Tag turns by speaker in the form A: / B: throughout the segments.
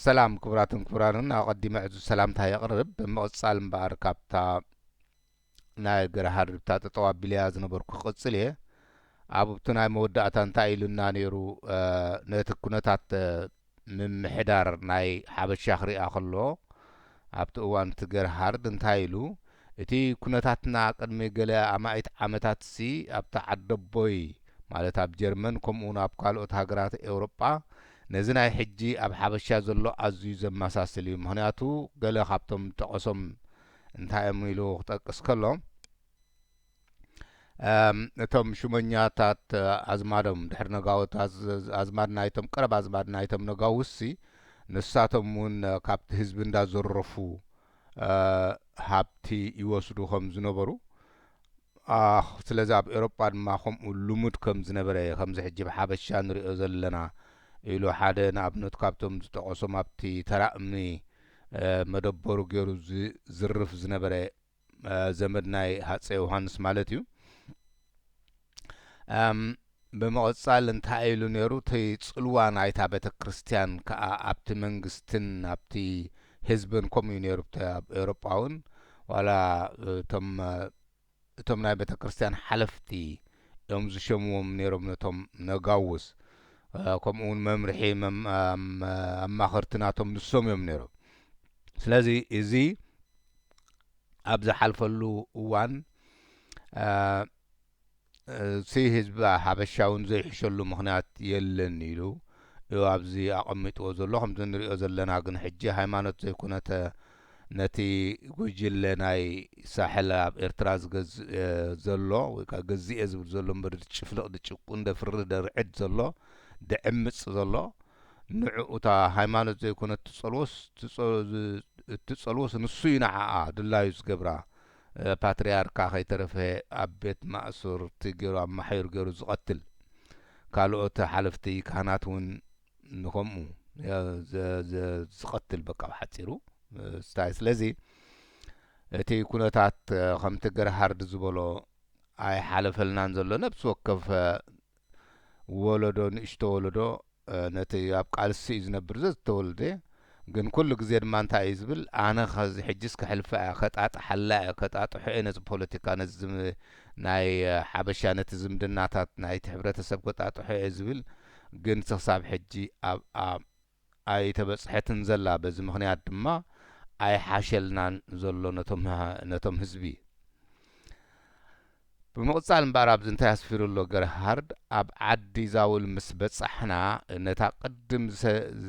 A: ሰላም ክቡራትን ክቡራንን ኣቀዲመ ዕዙዝ ሰላምታይ የቅርብ ብምቅጻል እምበኣር ካብታ ናይ ገረ ሃርብታ ጠጠው ኣቢለያ ዝነበርኩ ክቅጽል እየ ኣብብቲ ናይ መወዳእታ እንታይ ኢሉና ኔሩ ነቲ ኩነታት ምምሕዳር ናይ ሓበሻ ክርኣ ከሎ ኣብቲ እዋን እቲ ገረ ሃርድ እንታይ ኢሉ እቲ ኩነታትና ቅድሚ ገለ ኣማኢት ዓመታትሲ ኣብቲ ዓደቦይ ማለት ኣብ ጀርመን ከምኡውን ኣብ ካልኦት ሃገራት ኤውሮጳ ነዚ ናይ ሕጂ ኣብ ሓበሻ ዘሎ ኣዝዩ ዘመሳስል እዩ ምኽንያቱ ገለ ካብቶም ዝጠቐሶም እንታይ እዮም ኢሉ ክጠቅስ ከሎ እቶም ሹመኛታት ኣዝማዶም ድሕሪ ነጋውት ኣዝማድ ናይቶም ቀረብ ኣዝማድ ናይቶም ነጋውሲ ንሳቶም እውን ካብቲ ህዝቢ እንዳዘረፉ ሃብቲ ይወስዱ ከም ዝነበሩ ኣኽ ስለዚ ኣብ ኤሮጳ ድማ ከምኡ ልሙድ ከም ዝነበረ እየ ከምዚ ሕጂ ብ ሓበሻ ንሪኦ ዘለና ኢሉ ሓደ ንኣብነት ካብቶም ዝጠቐሶም ኣብቲ ተራ እምኒ መደበሩ ጌሩ ዝዝርፍ ዝነበረ ዘመድ ናይ ሃጸይ ዮሃንስ ማለት እዩ እም ብምቕጻል እንታይ ኢሉ ነይሩ እቲ ጽልዋ ናይታ ቤተክርስትያን ከኣ ኣብቲ መንግስትን ኣብቲ ህዝብን ከምኡ እዩ ነይሩ ኣብቲ ኣብ ኤውሮጳ ውን ዋላ እቶም እቶም ናይ ቤተክርስትያን ሓለፍቲ እዮም ዝሸምዎም ነይሮም ነቶም ነጋውስ ከምኡ ውን መምርሒ ኣማኸርቲ ናቶም ንሶም እዮም ነይሮም ስለዚ እዚ ኣብ ዝሓልፈሉ እዋን ርእሲ ህዝቢ ሓበሻ'ውን ዘይሕሸሉ ምኽንያት የለን ኢሉ እዩ ኣብዚ ኣቐሚጥዎ ዘሎ። ከምዚ ንርእዮ ዘለና ግን ሕጂ ሃይማኖት ዘይኮነተ ነቲ ጉጅለ ናይ ሳሕል ኣብ ኤርትራ ዝገዝእ ዘሎ ወይ ከኣ ገዚኤ ዝብል ዘሎ እምበር ዝጭፍልቕ ዝጭቁን ዘፍርህ ዘርዕድ ዘሎ ዝዕምጽ ዘሎ ንዕኡ እታ ሃይማኖት ዘይኮነት ትጸልዎስ እትጸልዎስ ንሱ እዩ ንዓኣ ድላዩ ዝገብራ ፓትርያርካ ከይተረፈ ኣብ ቤት ማእሱርቲ ገሩ ኣማሕዩር ገሩ ዝቀትል ካሎኦት ሓለፍቲ ካህናት ውን ንከምኡ ዝቀትል በቃ ብሓጺሩ ስታይ ስለዚ እቲ ኩነታት ከምቲ ገርሃርድ ዝበሎ ኣይሓለፈልናን ዘሎ ነብሲ ወከፍ ወለዶ ንእሽቶ ወለዶ ነቲ ኣብ ቃልሲ እዩ ዝነብር ዘዝተወልደ ግን ኩሉ ግዜ ድማ እንታይ እዩ ዝብል ኣነ ከዚ ሕጂስ ከሕልፋ እየ ከጣጥሓላ እየ ከጣጥሖ እየ ነዚ ፖለቲካ ነዚ ናይ ሓበሻ ነቲ ዝምድናታት ናይቲ ሕብረተሰብ ከጣጥሖ እየ ዝብል ግን ክሳብ ሕጂ ኣብ ኣይተበጽሐትን ዘላ በዚ ምኽንያት ድማ ኣይሓሸልናን ዘሎ ነቶም ህዝቢ። ብምቕጻል እምበኣር ኣብዚ እንታይ ኣስፊሩ ኣሎ ገርሃርድ ኣብ ዓዲ ዛውል ምስ በጻሕና ነታ ቅድም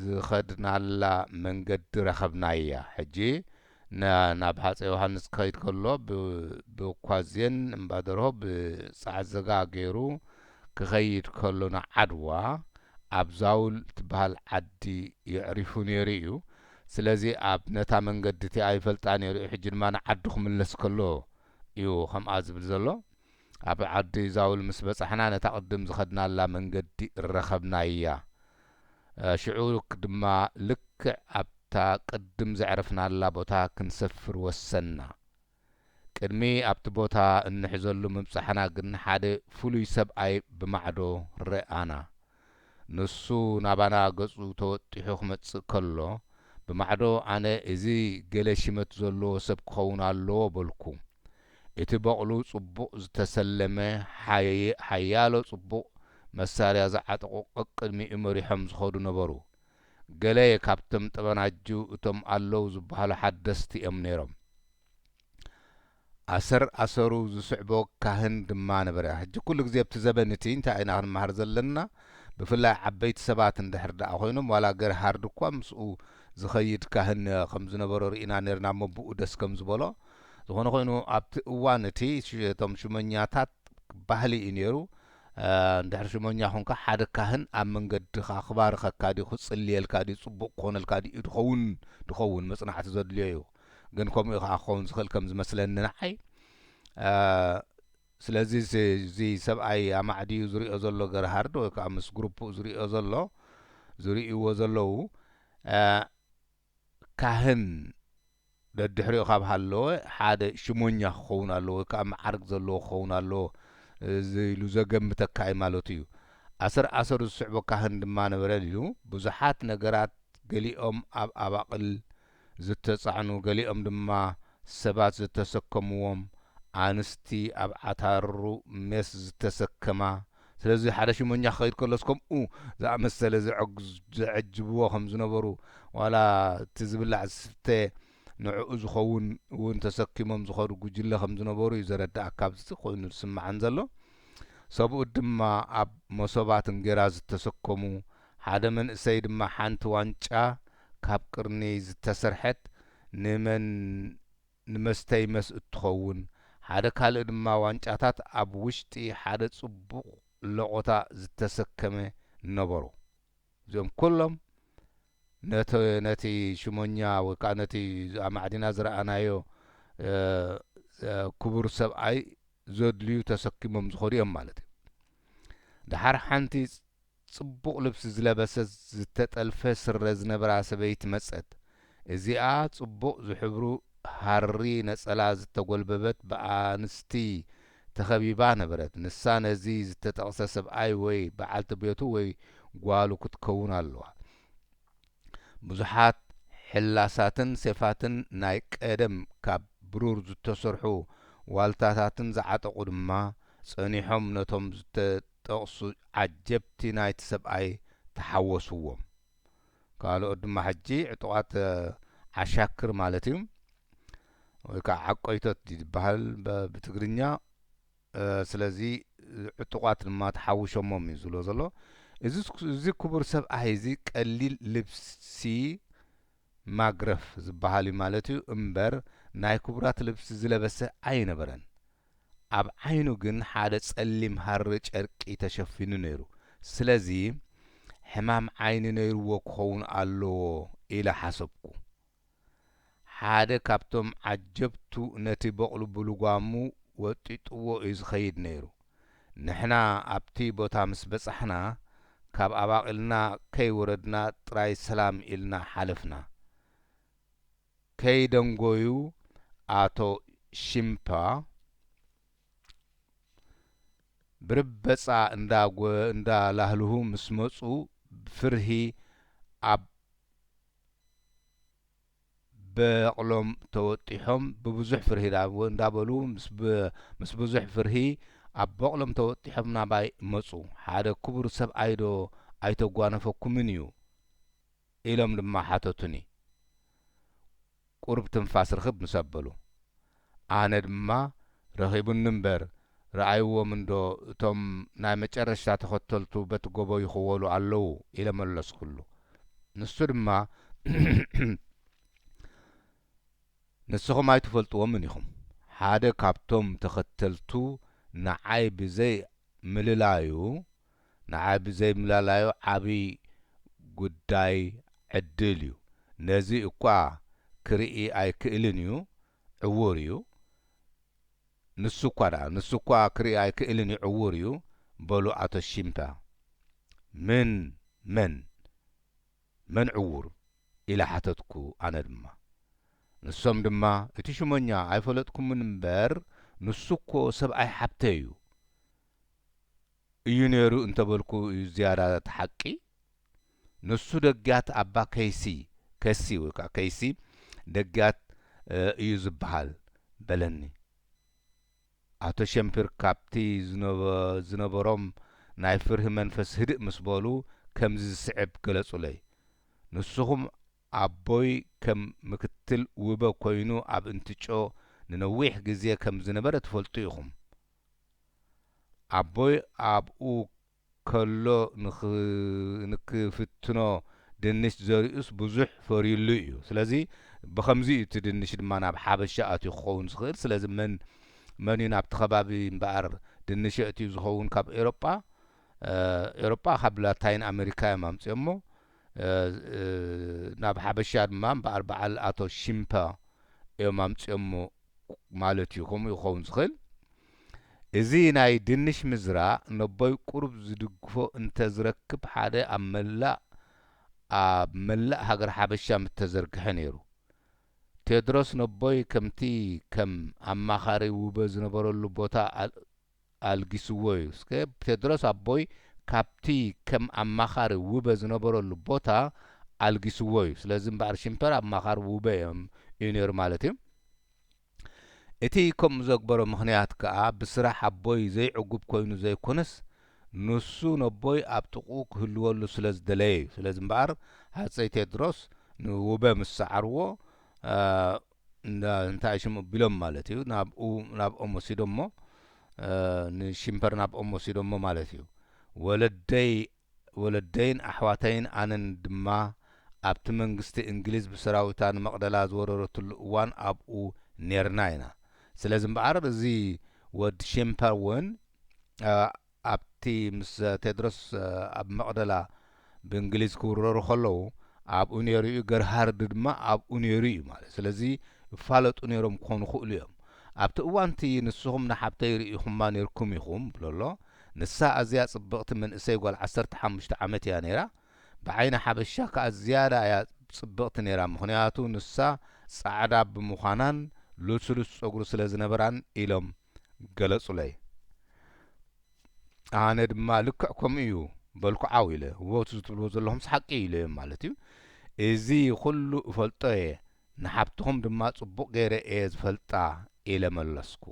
A: ዝኸድናላ መንገዲ ረኸብናያ ሕጂ ን ናብ ሃጸይ ዮሃንስ ክኸይድ ከሎ ብ ብኳዜን እምባደርሆ ብ ጸዓዘጋ ገይሩ ክኸይድ ከሎ ን ዓድዋ ኣብ ዛውል ትበሃል ዓዲ የዕሪፉ ነይሩ እዩ ስለዚ ኣብ ነታ መንገዲ እቲኣ ይፈልጣ ነይሩ እዩ ሕጂ ድማ ን ዓዱ ክምለስ ከሎ እዩ ከምኣ ዝብል ዘሎ ኣብ ዓዲ ዛውል ምስ በጻሕና ነታ ቅድም ዝኸድናላ መንገዲ ረኸብናያ ሽዑ ድማ ልክዕ ኣብታ ቅድም ዘዕረፍናላ ቦታ ክንሰፍር ወሰንና። ቅድሚ ኣብቲ ቦታ እንሕዘሉ ምብጻሕና ግን ሓደ ፍሉይ ሰብኣይ ብማዕዶ ርኣና። ንሱ ናባና ገጹ ተወጢሑ ክመጽእ ከሎ፣ ብማዕዶ ኣነ እዚ ገለ ሽመት ዘሎዎ ሰብ ክኸውን ኣሎዎ በልኩ። እቲ በቕሉ ጽቡቕ ዝተሰለመ ሓያሎ ጽቡቕ መሳርያ ዝዓጠቑ ቀቅድሚኡ መሪሖም ዝኸዱ ነበሩ። ገለ ካብቶም ጠበናጁ እቶም ኣለዉ ዝበሃሉ ሓደስቲ እዮም ነይሮም። ኣሰር ኣሰሩ ዝስዕቦ ካህን ድማ ነበረ። ሕጂ ኩሉ ግዜ ኣብቲ ዘበን እቲ እንታይ ኢና ክንመሃር ዘለና ብፍላይ ዓበይቲ ሰባት እንድሕር ደኣ ኮይኖም ዋላ ገርሃርድ እኳ ምስኡ ዝኸይድ ካህን ከም ዝነበሮ ርኢና ነርና እሞ ብኡ ደስ ከም ዝበሎ ዝኾነ ኾይኑ ኣብቲ እዋን እቲ እቶም ሹመኛታት ባህሊ እዩ ነይሩ ድሕሪ ሹመኛ ኹንካ ሓደ ካህን ኣብ መንገድኻ ክባርኸካ ድዩ ክጽልየልካ ድዩ ጽቡቕ ክኾነልካ ድዩ ድኸውን ድኸውን መጽናዕቲ ዘድልዮ እዩ ግን ከምኡ እዩ ኸኣ ክኸውን ዝኽእል ከም ዝመስለኒ ንዓይ ስለዚ እዚ ሰብኣይ ኣማዕድዩ ዝሪኦ ዘሎ ገርሃርድ ወይ ከዓ ምስ ግሩፕኡ ዝሪኦ ዘሎ ዝርእይዎ ዘለዉ ካህን ደድሕሪኡ ካብ ሃለወ ሓደ ሽሞኛ ክኸውን ኣለዎ ወይ ከኣ መዓርግ ዘለዎ ክኸውን ኣለዎ ኢሉ ዘገምተካ እዩ ማለቱ እዩ። ኣሰር ኣሰሩ ዝስዕቦ ካህን ድማ ነበረ ሊሉ ብዙሓት ነገራት ገሊኦም ኣብ ኣባቕል ዝተጻዕኑ ገሊኦም ድማ ሰባት ዝተሰከምዎም ኣንስቲ ኣብ ዓታሩ ሜስ ዝተሰከማ ስለዚ ሓደ ሹመኛ ክኸይድ ከሎስ ከምኡ ዝኣመሰለ ዘዐጅብዎ ከም ዝነበሩ ዋላ እቲ ዝብላዕ ዝስተ ንዕኡ ዝኸውን እውን ተሰኪሞም ዝኸዱ ጉጅለ ከም ዝነበሩ እዩ ዘረድኣካ ካብዚ ኮይኑ ዝስምዓኒ ዘሎ ሰብኡት ድማ ኣብ መሶባት እንጌራ ዝተሰከሙ ሓደ መንእሰይ ድማ ሓንቲ ዋንጫ ካብ ቅርኒ ዝተሰርሐት ንመን ንመስተይ መስ እትኸውን፣ ሓደ ካልእ ድማ ዋንጫታት ኣብ ውሽጢ ሓደ ጽቡቕ ለቖታ ዝተሰከመ ነበሮ። እዚኦም ኩሎም ነቲ ነቲ ሹመኛ ወይ ከኣ ነቲ ኣማዕዲና ዝረኣናዮ ክቡር ሰብኣይ ዘድልዩ ተሰኪሞም ዝኸዱ እዮም ማለት እዩ። ደሓር ሓንቲ ጽቡቕ ልብሲ ዝለበሰት ዝተጠልፈ ስረ ዝነበራ ሰበይቲ መጸት። እዚኣ ጽቡቕ ዝሕብሩ ሃሪ ነጸላ ዝተጎልበበት ብኣንስቲ ተኸቢባ ነበረት። ንሳ ነዚ ዝተጠቕሰ ሰብኣይ ወይ በዓልቲ ቤቱ ወይ ጓሉ ክትከውን ኣለዋ። ብዙሓት ሕላሳትን ሴፋትን ናይ ቀደም ካብ ብሩር ዝተሰርሑ ዋልታታትን ዝዓጠቑ ድማ ጸኒሖም ነቶም ጠቕሱ ዓጀብቲ ናይቲ ሰብኣይ ተሓወስዎም ካልኦት ድማ ሕጂ ዕጡቓት ዓሻክር ማለት እዩ ወይ ከኣ ዓቆይቶት ድዩ ዝበሃል ብትግርኛ ስለዚ ዕጡቓት ድማ ተሓውሾሞም እዩ ዝብሎ ዘሎ እዚ ክቡር ሰብኣይ እዚ ቀሊል ልብሲ ማግረፍ ዝበሃል እዩ ማለት እዩ እምበር ናይ ክቡራት ልብሲ ዝለበሰ ኣይነበረን ኣብ ዓይኑ ግን ሓደ ጸሊም ሃሪ ጨርቂ ተሸፊኑ ነይሩ። ስለዚ ሕማም ዓይኒ ነይሩዎ ክኸውን ኣሎዎ ኢለ ሓሰብኩ። ሓደ ካብቶም ዓጀብቱ ነቲ በቕሉ ብልጓሙ ወጢጡዎ እዩ ዝኸይድ ነይሩ። ንሕና ኣብቲ ቦታ ምስ በጻሕና ካብ ኣባቚልና ከይወረድና ጥራይ ሰላም ኢልና ሓለፍና። ከይደንጎዩ ኣቶ ሺምፓ ብርበጻ እንዳላህልሁ ምስ መጹ ፍርሂ ኣብ በቕሎም ተወጢሖም ብብዙሕ ፍርሂ እንዳበሉ ምስ ብዙሕ ፍርሂ ኣብ በቕሎም ተወጢሖም ናባይ መጹ። ሓደ ክቡር ሰብኣይዶ ኣይተጓነፈኩምን እዩ? ኢሎም ድማ ሓተቱኒ። ቁሩብ ትንፋስ ርኽብ ምስ ኣበሉ። ኣነ ድማ ረኺቡኒ እምበር ርኣይዎም እንዶ እቶም ናይ መጨረሽታ ተኸተልቱ በቲ ጎቦ ይኽወሉ ኣለዉ ኢለ መለስኩሉ። ንሱ ድማ ንስኹም ኣይትፈልጥዎምን ኢኹም ሓደ ካብቶም ተኸተልቱ ንዓይ ብዘይ ምልላዩ፣ ንዓይ ብዘይምላላዩ ዓብይ ጉዳይ ዕድል እዩ ነዚ እኳ ክርኢ ኣይክእልን እዩ ዕዉር እዩ ንሱ እኳ ድኣ ንሱ እኳ ክርኢ ኣይክእልን እዩ ዕዉር እዩ በሉ ኣቶ ሺምፐ ምን መን መን ዕዉር ኢለ ሓተትኩ ኣነ ድማ ንሶም ድማ እቲ ሹመኛ ኣይፈለጥኩምን እምበር ንሱ እኮ ሰብኣይ ሓብተይ እዩ እዩ ነይሩ እንተበልኩ እዩ ዝያዳ እቲ ሓቂ። ንሱ ደግያት ኣባ ከይሲ፣ ከሲ ወይ ከኣ ከይሲ ደግያት እዩ ዝበሃል፣ በለኒ። ኣቶ ሸምፒር ካብቲ ዝነበሮም ናይ ፍርሂ መንፈስ ህድእ ምስ በሉ ከምዚ ዝስዕብ ገለጹለይ፣ ንስኹም ኣቦይ ከም ምክትል ውበ ኮይኑ ኣብ እንትጮ ንነዊሕ ግዜ ከም ዝነበረ ትፈልጡ ኢኹም። ኣቦይ ኣብኡ ከሎ ንክፍትኖ ድንሽ ዘሪኡስ ብዙሕ ፈርዩሉ እዩ ስለዚ ብከምዚ እዩ እቲ ድንሽ ድማ ናብ ሓበሻ ኣትዩ ክኸውን ዝኽእል ስለዚ መን መን እዩ ናብቲ ከባቢ እምበኣር ድንሽ የእትዩ ዝኸውን ካብ ኤሮጳ ኤሮጳ ካብ ላታይን ኣመሪካ እዮም ኣምጺኦሞ ናብ ሓበሻ ድማ እምበኣር በዓል ኣቶ ሺምፐ እዮም ኣምጺኦሞ ማለት እዩ ከምኡ እዩ ክኸውን ዝኽእል። እዚ ናይ ድንሽ ምዝራ ነቦይ ቁሩብ ዝድግፎ እንተ ዝረክብ ሓደ ኣብ መላእ ኣብ መላእ ሃገረ ሓበሻ ምተዘርግሐ ነይሩ። ቴድሮስ ነቦይ ከምቲ ከም ኣማኻሪ ውበ ዝነበረሉ ቦታ ኣልጊስዎ እዩ። እስከ ቴድሮስ ኣቦይ ካብቲ ከም ኣማኻሪ ውበ ዝነበረሉ ቦታ ኣልጊስዎ እዩ። ስለዚ እምበኣር ሽምፐር ኣማኻሪ ውበ እዮም እዩ ነይሩ ማለት እዩ። እቲ ከምኡ ዘግበሮ ምኽንያት ከኣ ብስራሕ ኣቦይ ዘይዕጉብ ኮይኑ ዘይኮነስ ንሱ ነቦይ ኣብ ጥቕኡ ክህልወሉ ስለ ዝደለየ እዩ። ስለዚ እምበኣር ሃጸይ ቴድሮስ ንውበ ምስ ሰዓርዎ፣ እንዳ እንታይ ሽሙ ኣቢሎም ማለት እዩ ናብኡ ናብኦም ወሲዶሞ ንሽምፐር ናብኦም ወሲዶሞ ማለት እዩ ወለደይ ወለደይን ኣሕዋተይን ኣነን ድማ ኣብቲ መንግስቲ እንግሊዝ ብሰራዊታ ንመቅደላ ዝወረረትሉ እዋን ኣብኡ ኔርና ኢና ስለዚ እምበኣር እዚ ወድ ሽምፐር ውን ኣብቲ ምስ ቴድሮስ ኣብ መቕደላ ብእንግሊዝ ክውረሩ ከለዉ ኣብኡ ነይሩ'ዩ፣ ገርሃርድ ድማ ኣብኡ ነይሩ'ዩ ማለት ስለዚ ይፋለጡ ነይሮም ክኾኑ ይኽእሉ እዮም። ኣብቲ እዋን'ቲ ንስኹም ንሓብተይ ርኢኹማ ነይርኩም ኢኹም ብሎ'ሎ። ንሳ ኣዝያ ጽብቕቲ መንእሰይ ጓል ዓሰርተ ሓሙሽተ ዓመት እያ ነይራ። ብዓይኒ ሓበሻ ከኣ ዝያዳ እያ ጽብቕቲ ነይራ ምኽንያቱ ንሳ ጻዕዳ ብምዃናን ልስሉስ ጸጉሪ ስለ ዝነበራን ኢሎም። ገለጹለይ። ኣነ ድማ ልክዕ ከምኡ እዩ በልኩ ዓው ኢለ። እወ እቲ ዝትብልዎ ዘለኹምስ ሓቂ እዩ ኢለዮም ማለት እዩ። እዚ ኹሉ እፈልጦ እየ፣ ንሓብትኹም ድማ ጽቡቕ ገይረ እየ ዝፈልጣ ኢለ መለስኩ።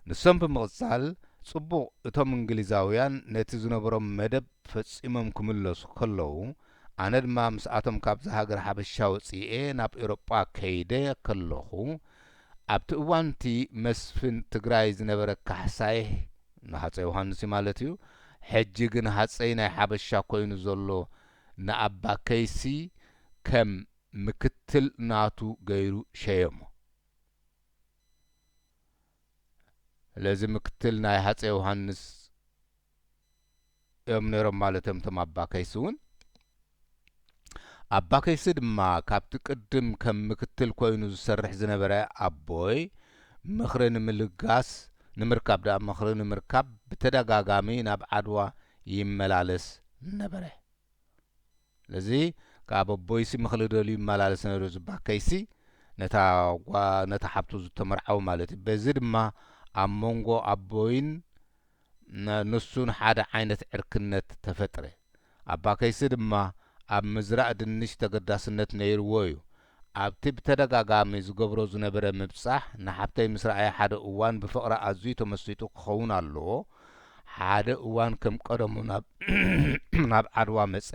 A: ንሶም ብምቕጻል ጽቡቕ እቶም እንግሊዛውያን ነቲ ዝነበሮም መደብ ፈጺሞም ክምለሱ ከለዉ ኣነ ድማ ምስኣቶም ካብዛ ሃገር ሓበሻ ወጺኤ ናብ ኤውሮጳ ከይደ ከለኹ ኣብቲ እዋን'ቲ መስፍን ትግራይ ዝነበረ ካሕሳይ፣ ንሃጸይ ዮሃንስ'ዩ ማለት'ዩ፣ ሕጂ ግን ሃጸይ ናይ ሓበሻ ኮይኑ ዘሎ ንኣባ ከይሲ ከም ምክትል ናቱ ገይሩ ሸየሞ። ስለዚ ምክትል ናይ ሃጸይ ዮሃንስ። እዮም ነይሮም ማለት እዮም እቶም ኣባ ከይሲ እውን። ኣባ ከይሲ ድማ ካብቲ ቅድም ከም ምክትል ኮይኑ ዝሰርሕ ዝነበረ ኣቦይ ምኽሪ ንምልጋስ ንምርካብ ድኣ ምኽሪ ንምርካብ ብተደጋጋሚ ናብ ዓድዋ ይመላለስ ነበረ። ስለዚ ከኣ በቦይሲ ምክሊ ደልዩ ይመላለስ ነይሩ ዝባከይሲ ነታ ጓል ነታ ሓብቱ ዝተመርዓዉ ማለት እዩ በዚ ድማ ኣብ መንጎ ኣቦይን ንሱን ሓደ ዓይነት ዕርክነት ተፈጥረ ኣባከይሲ ድማ ኣብ ምዝራእ ድንሽ ተገዳስነት ነይርዎ እዩ ኣብቲ ብተደጋጋሚ ዝገብሮ ዝነበረ ምብጻሕ ንሓብተይ ምስ ረኣየ ሓደ እዋን ብፍቕራ ኣዝዩ ተመሲጡ ክኸውን ኣለዎ ሓደ እዋን ከም ቀደሙ ናብ ዓድዋ መጸ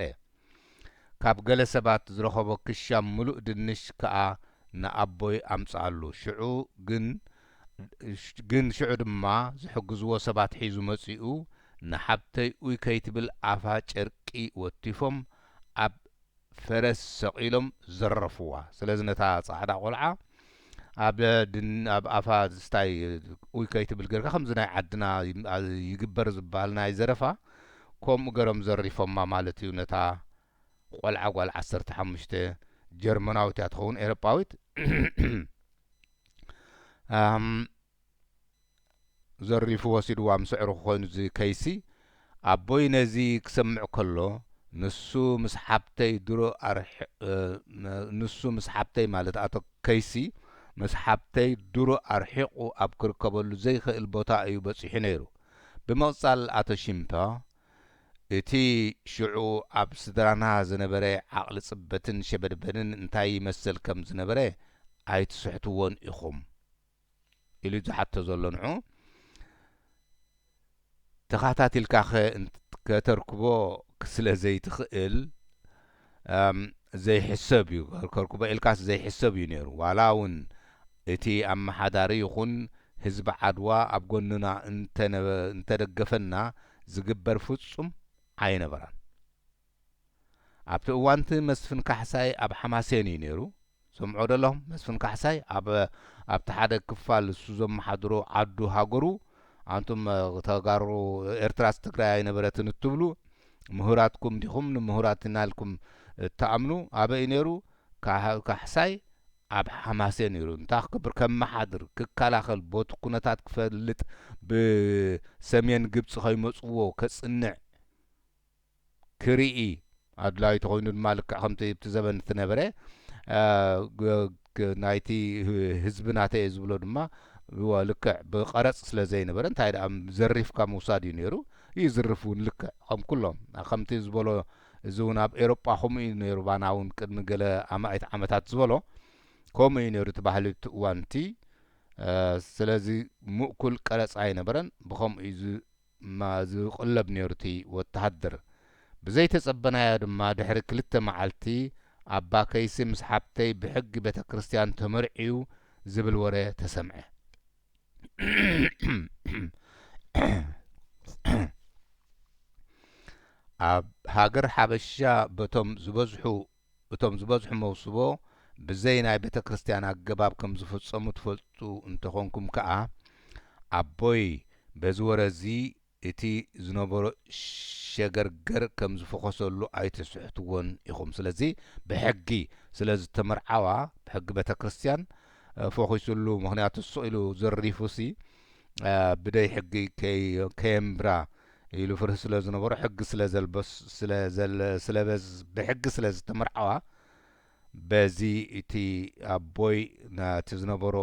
A: ካብ ገለ ሰባት ዝረኸቦ ክሻ ምሉእ ድንሽ ከኣ ንኣቦይ ኣምጽኣሉ ሽዑ ግን ግን ሽዑ ድማ ዝሕግዝዎ ሰባት ሒዙ መጺኡ ንሓብተይ ኡይ ከይትብል ኣፋ ጨርቂ ወቲፎም ኣብ ፈረስ ሰቒሎም ዘረፉዋ። ስለዚ ነታ ጻዕዳ ቆልዓ ኣብ ኣብ ኣፋ ዝስታይ ኡይ ከይትብል ገርካ ከምዚ ናይ ዓድና ይግበር ዝብሃል ናይ ዘረፋ ከምኡ ገሮም ዘሪፎማ ማለት እዩ ነታ ቆልዓ ጓል ዓሰርተ ሓሙሽተ ጀርመናዊት እያ ትኸውን ኤሮጳዊት። ዘሪፉ ወሲድዋ ምስ ኣዕሩኹ ኮይኑ እዚ ከይሲ ኣቦይ ነዚ ክሰምዕ ከሎ ንሱ ምስ ሓብተይ ድሮ ንሱ ምስ ሓብተይ ማለት ኣቶ ከይሲ ምስ ሓብተይ ድሮ ኣርሒቑ ኣብ ክርከበሉ ዘይኽእል ቦታ እዩ በጺሑ ነይሩ ብምቕጻል ኣቶ ሺምፓ እቲ ሽዑ ኣብ ስድራና ዝነበረ ዓቕሊ ጽበትን ሸበድበድን እንታይ ይመስል ከም ዝነበረ ኣይትስሕትዎን ኢኹም ኢሉ እዩ ዝሓቶ ዘሎ ንዑ ተኻታቲልካ ከተርክቦ ስለ ዘይትኽእል ዘይሕሰብ እዩ ከርክቦ ኢልካስ ዘይሕሰብ እዩ ነይሩ ዋላ እውን እቲ ኣመሓዳሪ ይኹን ህዝቢ ዓድዋ ኣብ ጎንና እንተደገፈና ዝግበር ፍፁም ኣይነበራን። ኣብቲ እዋንቲ መስፍን ካሕሳይ ኣብ ሓማሴን እዩ ነይሩ ሰምዑ ዶ ኣለኹም መስፍን ካሕሳይ ኣብ ኣብቲ ሓደ ክፋል እሱ ዘመሓድሮ ዓዱ ሃገሩ ኣንቱም ተጋሩ ኤርትራስ ትግራይ ኣይነበረትን እትብሉ ምሁራትኩም ዲኹም ንምሁራት ኢና ኢልኩም እትኣምኑ ኣበይ እዩ ነይሩ ካሕሳይ ኣብ ሓማሴን ነይሩ እንታይ ክገብር ከመሓድር ክከላኸል ቦቲ ኩነታት ክፈልጥ ብሰሜን ግብጺ ከይመጽዎ ከጽንዕ ክርኢ ኣድላዩ ተኾይኑ ድማ ልክዕ ከምቲ ኣብቲ ዘበን እቲ ነበረ ናይቲ ህዝቢ ናተይ ዝብሎ ድማ ልክዕ ብቐረጽ ስለ ዘይነበረ እንታይ ደኣ ዘሪፍካ ምውሳድ እዩ ነይሩ ይዝርፍ እውን ልክዕ ከም ኩሎም ከምቲ ዝበሎ እዚ እውን ኣብ ኤሮጳ ከምኡ እዩ ነይሩ ባና እውን ቅድሚ ገለ ኣማኢት ዓመታት ዝበሎ ከምኡ እዩ ነይሩ እቲ ባህሊ እቲ እዋን እቲ ስለዚ ምእኩል ቀረጽ ኣይነበረን ብከምኡ እዩ እማ ዝቕለብ ነይሩ'ቲ ወተሃደር። ብዘይተጸበናዮ ድማ ድሕሪ ክልተ መዓልቲ ኣባ ከይሲ ምስ ሓብተይ ብሕጊ ቤተ ክርስቲያን ተመርዕዩ ዝብል ወረ ተሰምዐ። ኣብ ሃገር ሓበሻ በቶም ዝበዝሑ እቶም ዝበዝሑ መውስቦ ብዘይ ናይ ቤተክርስትያን ኣገባብ ከም ዝፍጸሙ ትፈልጡ እንተ ኾንኩም ከኣ ኣቦይ በዚ ወረ እዚ እቲ ዝነበሮ ሸገርገር ከም ዝፈኾሰሉ ኣይትስሕትዎን ኢኹም ስለዚ ብሕጊ ስለ ዝተመርዓዋ ብሕጊ ቤተክርስትያን ፎኺሱሉ ምኽንያቱ ስቕ ኢሉ ዘሪፉሲ ብደይ ሕጊ ከየንብራ ኢሉ ፍርህ ስለ ዝነበሮ ሕጊ ስለ ዘልበስ ስለ ዘል ስለ በዝ ብሕጊ ስለ ዝተመርዓዋ በዚ እቲ ኣቦይ ናቲ ዝነበሮ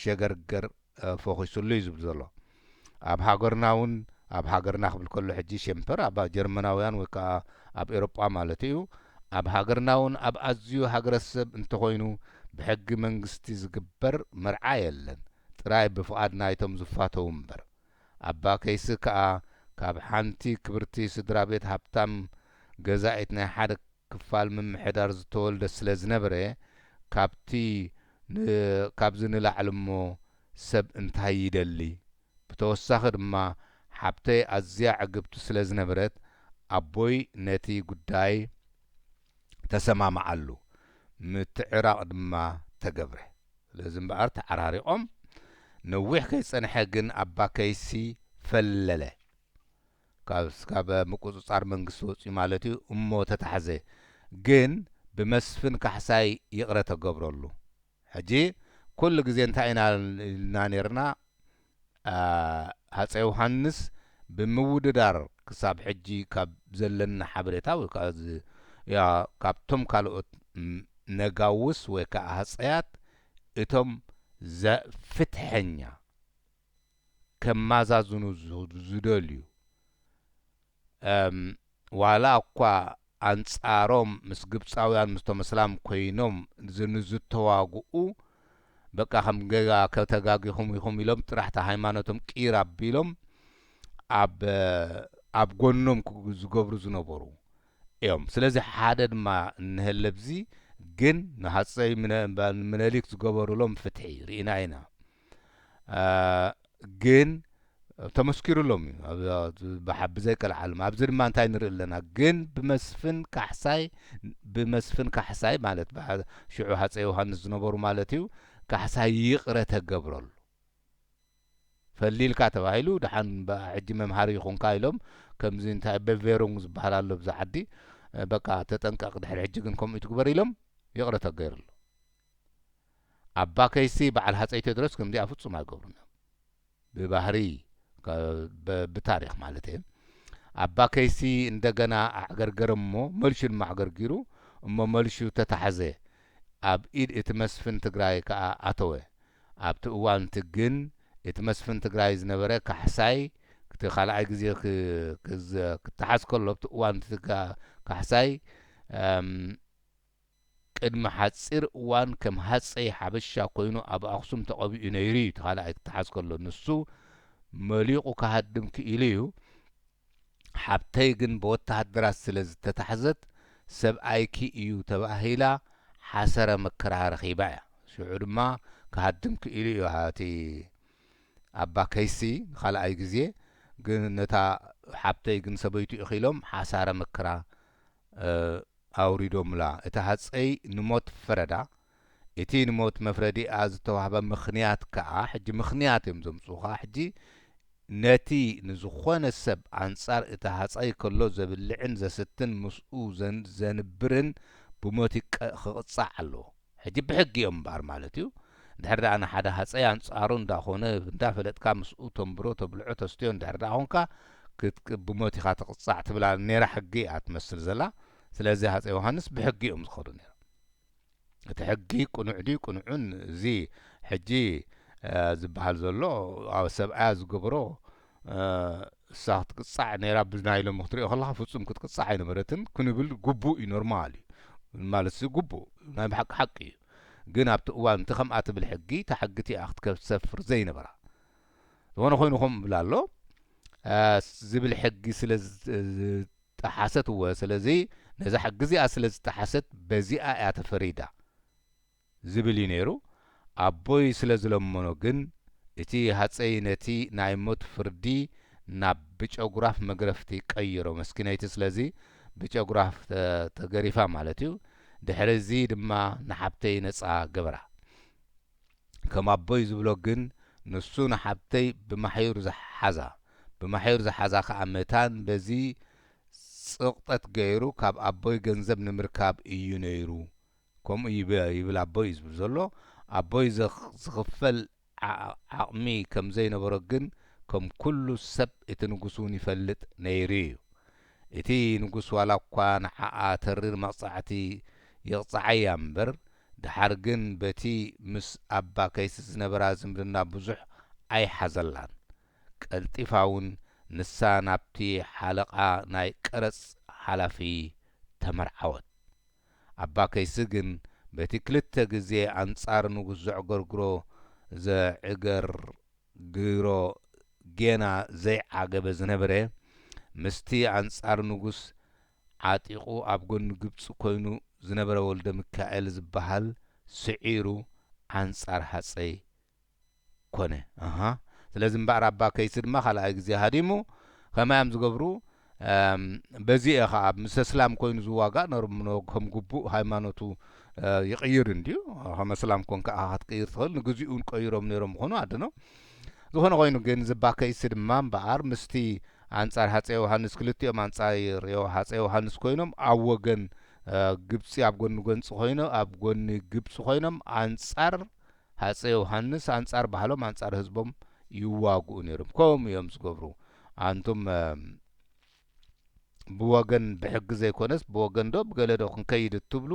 A: ሸገርገር ፎኺሱሉ እዩ ዝብል ዘሎ ኣብ ሃገርና ውን ኣብ ሃገርና ክብል ከሎ ሕጂ ሸምፐር ኣብ ጀርመናውያን ወይ ከኣ ኣብ ኤሮጳ ማለቱ እዩ ኣብ ሃገርና ውን ኣብ ኣዝዩ ሃገረሰብ እንተኾይኑ ብሕጊ መንግስቲ ዝግበር መርዓ የለን ጥራይ ብፍቓድ ናይቶም ዝፋተዉ እምበር ኣባ ከይሲ ከኣ ካብ ሓንቲ ክብርቲ ስድራቤት ሃብታም ገዛኢት ናይ ሓደ ክፋል ምምሕዳር ዝተወልደ ስለ ዝነበረ ካብቲ ን ካብዚ ንላዕሊ እሞ ሰብ እንታይ ይደሊ ብተወሳኺ ድማ ሓብተይ ኣዝያ ዕግብቲ ስለ ዝነበረት ኣቦይ ነቲ ጉዳይ ተሰማምዓሉ ምትዕራቕ ድማ ተገብረ። ስለዚ እምበኣር ተዓራሪቖም፣ ነዊሕ ከይጸንሐ ግን ኣባ ከይሲ ፈለለ። ካብ ምቁጽጻር መንግስቲ ወጺኡ ማለት እዩ እሞ ተታሕዘ። ግን ብመስፍን ካሕሳይ ይቕረ ተገብረሉ። ሕጂ ኩሉ ግዜ እንታይ ኢና ኢልና ኔርና ሃጸይ ዮውሃንስ ብምውድዳር ክሳብ ሕጂ ካብ ዘለኒ ሓበሬታ ወይ ከኣ ካብቶም ካልኦት ነጋውስ ወይ ከኣ ሃጸያት እቶም ዘ ፍትሐኛ ከማዛዝኑ ዝደልዩ ዋላ'ኳ ኣንጻሮም ምስ ግብጻውያን ምስቶም እስላም ኮይኖም ንዝተዋግኡ በቃ ከም ጌጋ ተጋጊኹም ኢኹም ኢሎም ጥራሕ እታ ሃይማኖቶም ቂር ኣቢሎም ኣብ ኣብ ጎኖም ዝገብሩ ዝነበሩ እዮም ስለዚ ሓደ ድማ እንሀለ ኣብዚ ግን ንሃጸይ ምነሊክ ዝገበሩሎም ፍትሒ ሪኢና ኢና ግን ተመስኪሩሎም እዩ ብዘይ ቀልዓልም ኣብዚ ድማ እንታይ ንርኢ ኣለና ግን ብመስፍን ካሕሳይ ብመስፍን ካሕሳይ ማለት ሽዑ ሃፀ ዮሃንስ ዝነበሩ ማለት እዩ ካሕሳይ ይቕረ ተገብረሉ ፈሊልካ ተባሂሉ ድሓን ሕጂ መምሃሪ ይኹንካ ኢሎም ከምዚ እንታይ በቬሩንግ ዝበሃል ኣሎ ብዛ ዓዲ በቃ ተጠንቀቕ ድሕሪ ሕጂ ግን ከምኡ ትግበር ኢሎም ይቕረ ተገይርሉ ኣባ ከይሲ በዓል ሃጸይ ቴድሮስ ከምዚኣ ፍጹም ኣይገብሩን እዮም ብባህሪ ብታሪኽ ማለተየ ኣባ ከይሲ እንደገና ኣዕገርገረ እሞ መልሹ ድማ ኣዕገርጊሩ እሞ መልሹ ተታሕዘ ኣብ ኢድ እቲ መስፍን ትግራይ ከኣ ኣተወ ኣብቲ እዋን እቲ ግን እቲ መስፍን ትግራይ ዝነበረ ካሕሳይ እቲ ካልኣይ ግዜ ክተሓዝ ከሎ ኣብቲ እዋን እቲ ካሕሳይ ቅድሚ ሓጺር እዋን ከም ሃጸይ ሓበሻ ኮይኑ ኣብ ኣኽሱም ተቐቢኡ ነይሩ'ዩ እቲ ካልኣይ ክተሓዝ ከሎ ንሱ መሊቑ ክሃድም ክኢሉ'ዩ ሓብተይ ግን ብወተሃደራት ስለ ዝተታሕዘት ሰብኣይኪ እዩ ተባሂላ ሓሰረ መከራ ረኺባ'ያ ሽዑ ድማ ክሃድም ክኢሉ'ዩ እቲ ኣባ ከይሲ ንኻልኣይ ግዜ ግን ነታ ሓብተይ ግን ሰበይቱ እኺሎም ሓሳረ መከራ ኣውሪዶምላ፣ እቲ ሃጸይ ንሞት ፈረዳ፣ እቲ ንሞት መፍረዲኣ ዝተዋህበ ምኽንያት ከኣ ሕጂ ምኽንያት እዮም ዘምጽኡኻ ሕጂ ነቲ ንዝኾነ ሰብ ኣንጻር እቲ ሃጻይ ከሎ ዘብልዕን ዘስትን ምስኡ ዘንብርን ብሞት ክቕጻዕ ኣለዎ። ሕጂ ብሕጊ እዮም እምበኣር ማለት እዩ እንድሕር ደኣ ንሓደ ሃጸይ ኣንጻሩ እንዳ ኮነ እንዳ ፈለጥካ ምስኡ ተንብሮ ተብልዖ ተስትዮ እንድሕር ደኣ ኮንካ ክትክ ብሞት ኢኻ ትቕጻዕ ትብላ ኔራ ሕጊ እያ ትመስል ዘላ ስለዚ ሃጸይ ዮሃንስ ብሕጊ እዮም ዝኸዱ ኔሮም እቲ ሕጊ ቅኑዕ ድዩ ቅኑዕን እዚ ሕጂ ዝብሃል ዘሎ ሰብኣያ ዝገብሮ እሳ ክትቅጻዕ ኔራ ብናይ ሎሚ ክትሪኦ ከለካ ፍጹም ክትቅጻዕ ኣይነበረትን ክንብል ጉቡእ እዩ ኖርማል እዩ ማለትሲ ጉቡእ ናይ ብሓቂ ሓቂ እዩ ግን ኣብቲ እዋን እቲ ከምኣ ትብል ሕጊ እታ ሕጊቲ እያ ክትሰፍር ዘይነበራ ዝኾነ ኮይኑ ከም እብል ኣሎ ዝብል ሕጊ ስለ ዝጠሓሰት እወ ስለዚ ነዛ ሕጊ እዚኣ ስለ ዝጠሓሰት በዚኣ እያ ተፈሪዳ ዝብል እዩ ነይሩ። ኣቦይ ስለ ዝለመኖ ግን እቲ ሃጸይ ነቲ ናይ ሞት ፍርዲ ናብ ብጨጉራፍ መግረፍቲ ቀይሮ። መስኪነይቲ ስለዚ ብጨጉራፍ ተገሪፋ ማለት እዩ። ድሕሪ እዚ ድማ ንሓብተይ ነጻ ገበራ። ከም ኣቦይ ዝብሎ ግን ንሱ ንሓብተይ ብማሕዩር ሓዛ። ብማሕዩር ዝሓዛ ከኣ መታን በዚ ጽቕጠት ገይሩ ካብ ኣቦይ ገንዘብ ንምርካብ እዩ ነይሩ ከምኡ ይብል ኣቦይ እዩ ዝብል ዘሎ ኣቦይ ዝኽፈል ዓቕሚ ከም ዘይነበሮ ግን ከም ኩሉ ሰብ እቲ ንጉስ እውን ይፈልጥ ነይሩ እዩ እቲ ንጉስ ዋላ እኳ ንዓኣ ተሪር መቕጻዕቲ ይቕጽዓያ እምበር ደሓር ግን በቲ ምስ ኣባ ከይሲ ዝነበራ ዝምድና ብዙሕ ኣይሓዘላን ቀልጢፋ እውን ንሳ ናብቲ ሓለቓ ናይ ቀረጽ ሓላፊ ተመርዓወት። ኣባ ከይሲ ግን በቲ ክልተ ግዜ ኣንጻር ንጉስ ዘዕገርግሮ ዘዕገርግሮ ጌና ዘይዓገበ ዝነበረ፣ ምስቲ ኣንጻር ንጉስ ዓጢቑ ኣብ ጎኒ ግብጺ ኮይኑ ዝነበረ ወልደሚካኤል ዝበሃል ስዒሩ ኣንጻር ሃጸይ ኮነ ኣሃ ስለዚ እምበኣር ኣባ ከይሲ ድማ ካልኣይ ግዜ ሃዲሙ ከመይ ኣም ዝገብሩ በዚ እየ ከኣ ምስ እስላም ኮይኑ ዝዋጋእ ነርምኖ ከም ግቡእ ሃይማኖቱ ይቅይር እንድዩ ከም እስላም ኮንካ እኻ ክትቅይር ትኽእል ንግዚኡ ውን ቀይሮም ነይሮም ይኾኑ ኣድኖ ዝኾነ ኮይኑ ግን እዚ ኣባ ከይሲ ድማ እምበኣር ምስቲ ኣንጻር ሃጸ ዮውሃንስ ክልቲኦም ኣንጻር ሃጸ ዮውሃንስ ኮይኖም ኣብ ወገን ግብጺ ኣብ ጎኒ ጎንጺ ኮይኖ ኣብ ጎኒ ግብጺ ኮይኖም ኣንጻር ሃጸይ ዮውሃንስ ኣንጻር ባህሎም ኣንጻር ህዝቦም ይዋግኡ ኔሮም ከምኡ ኢዮም ዝገብሩ ኣንቱም ብወገን ብሕጊ ዘይኮነስ ብወገን ዶ ብገለ ዶ ክንከይድ እትብሉ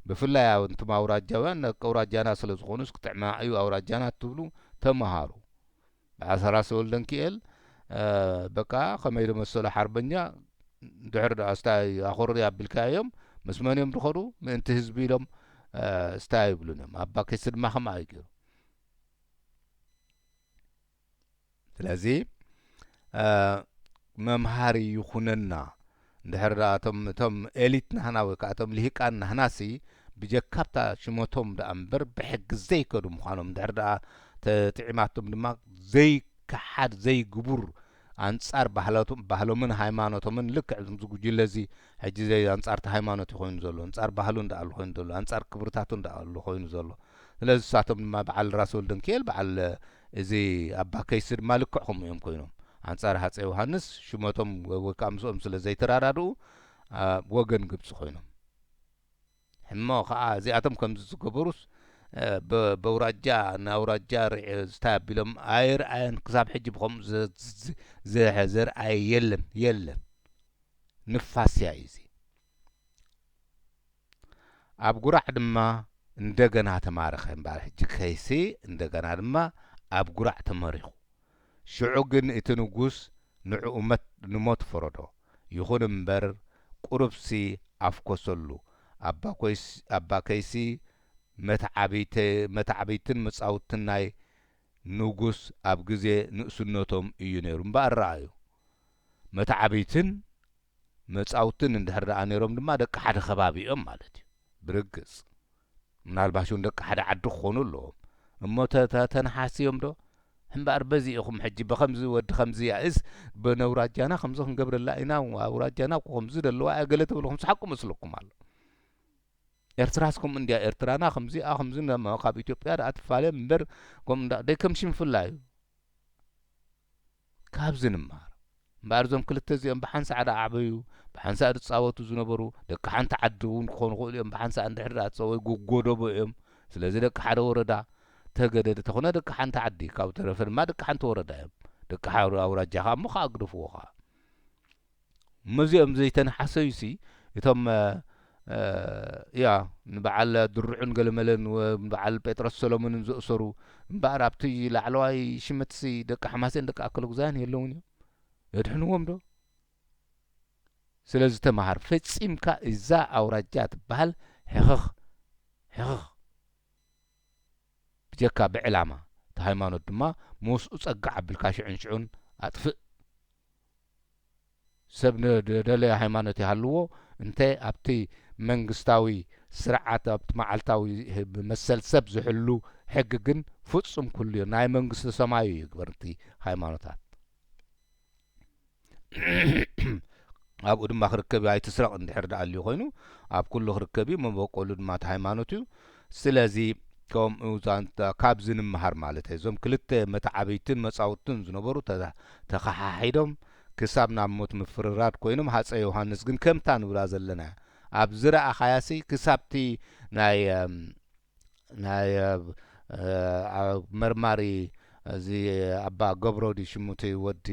A: ብፍላይ ኣንቱም ኣውራጃውያን ኣውራጃና ስለ ዝኾኑስ ክጥዕማ ኢዩ ኣውራጃና እትብሉ ተማሃሩ ኣሰራት ሰወልደንኪኤል በቃ ከመይ ዘመሰሉ ሓርበኛ ድሕር ድኣ እስታይ ኣኹርር ኣቢልካዮም ምስ መን እዮም ዝኸዱ ምእንቲ ህዝቢ ኢሎም እስታይ ኣይብሉን እዮም ኣባ ኪሲ ድማ ከምኣ እዩ ገይሩ ስለዚ መምሃሪ ይኹነና እንድሕር ደኣ እቶም እቶም ኤሊት ናህና ወይ ከኣ እቶም ልሂቃን ናህናሲ ብጀካብታ ሽመቶም ደኣ እምበር ብሕጊ ዘይከዱ ምዃኖም እንድሕር ደኣ ተጥዒማቶም ድማ ዘይከሓድ ዘይግቡር ኣንጻር ባህላቶም ባህሎምን ሃይማኖቶምን ልክዕ እዚ ጉጅለዚ ሕጂ ዘይ ኣንጻር እቲ ሃይማኖት እዩ ኮይኑ ዘሎ ኣንጻር ባህሉን ደኣ ኣሉ ኮይኑ ዘሎ ኣንጻር ክብርታቱን ደኣ ኣሉ ኮይኑ ዘሎ ስለዚ ንሳቶም ድማ በዓል ራስ ወልደንኪኤል በዓል እዚ ኣባ ከይሲ ድማ ልክዕ ከምኡ እዮም ኮይኖም። ኣንጻር ሃጸይ ዮሃንስ ሽመቶም ወይ ከኣ ምስኦም ስለ ዘይተራዳድኡ ኣብ ወገን ግብጺ ኮይኖም። ሕሞ ከኣ እዚኣቶም ከምዚ ዝገበሩስ ብ በውራጃ ንኣውራጃ ርዒ ዝታይ ኣቢሎም ኣይርኣየን ክሳብ ሕጂ ብከምኡ ዘ ዘ ዘርኣየ የለን የለን። ንፋስ እያ ኢዚ። ኣብ ጉራዕ ድማ እንደገና ተማረኸ እምበኣር ሕጂ ከይሲ እንደገና ድማ ኣብ ጉራዕ ተመሪኹ ሽዑ ግን እቲ ንጉስ ንዕኡ ንሞት ፈረዶ ይኹን እምበር ቁሩብሲ ኣፍኮሰሉ ኣባ ከይሲ መተዓብይትን መጻውትን ናይ ንጉስ ኣብ ግዜ ንእስነቶም እዩ ነይሩ እምበኣር ረኣዩ መተዓብይትን መጻውትን እንድሕር ደኣ ነይሮም ድማ ደቂ ሓደ ከባቢ እዮም ማለት እዩ። ብርግጽ ምናልባሽ እውን ደቂ ሓደ ዓዲ ክኾኑ ኣለዎም። እሞ ተተ ተነሓስዮምዶ? እምበኣር በዚ ኢኹም ሕጂ በኸምዚ ወዲ ከምዚያእስ በነውራጃና ከምዚ ክንገብረላ ኢና፣ ኣውራጃና እኮ ከምዚ ደለዋ እያ ገለ ትብሉ ከምስሓቁ መስለኩም ኣሎ። ኤርትራስ ከምኡ እንድያ ኤርትራና ከምዚኣ ከምዚ ካብ ኢትዮጵያ ደኣ ትፋለ እምበር ከምኡ እንዳ ደይ ከም ሽንፍላ እዩ። ካብዚ ንማሃር እምበኣር እዞም ክልተ እዚኦም ብሓንሳዕ ድኣ ዓበዩ ብሓንሳእ ድጻወቱ ዝነበሩ ደቂ ሓንቲ ዓዲ እውን ክኾኑ ይኽእሉ እዮም ብሓንሳእ እንድሕር ድኣ ተጸወዩ ጎጎደቦ እዮም ስለዚ ደቂ ሓደ ወረዳ ተገደደ ተኹነ ደቂ ሓንቲ ዓዲ ካብኡ ተረፈ ድማ ደቂ ሓንቲ ወረዳ እዮም ደቂ ሓደ ኣውራጃ ከኣ እሞ ከኣ ግደፍዎ ከኣ መዚኦም ዘይተንሓሰዩሲ እቶም እያ ንበዓል ድሩዕን ገለመለን ንበዓል ጴጥሮስ ሰሎሞንን ዘእሰሩ እምበኣር ኣብቲ ላዕለዋይ ሽመትሲ ደቂ ሓማሴን ደቂ ኣከለጉዛያን የለውን እዮም የድሕንዎም ዶ ስለዚ ተመሃር ፈጺምካ እዛ ኣውራጃ ትበሃል ሕኽኽ ሕኽኽ ብጀካ ብዕላማ እቲ ሃይማኖት ድማ መውስኡ ጸግዕ ኣብልካ ሽዑን ሽዑን ኣጥፍእ ሰብ ንደለዮ ሃይማኖት ይሃልዎ እንተ ኣብቲ መንግስታዊ ስርዓት ኣብቲ መዓልታዊ መሰል ሰብ ዝሕሉ ሕጊ ግን ፍጹም ኩሉዮ ናይ መንግስተ ሰማዩ ይግበር እቲ ሃይማኖታት ኣብኡ ድማ ክርከብዩ ኣይትስረቅ እንድሕር ድኣልዩ ኮይኑ ኣብ ኩሉ ክርከብዩ መበቆሉ ድማ እቲ ሃይማኖትዩ ስለዚ ከምኡ ዛንታ ካብዚ ንምሃር ማለተይ እዞም ክልተ መተዓብይትን መጻውትን ዝነበሩ ተኸሓሒዶም ክሳብ ናብ ሞት ምፍርራድ ኮይኖም ሃጸይ ዮሃንስ ግን ከምታ ንብላ ዘለና ኣብ ዝረኣኻያሲ ክሳብቲ ናይ ናይ መርማሪ እዚ ኣባ ገብሮ ድዩ ሽሙ እቲ ወዲ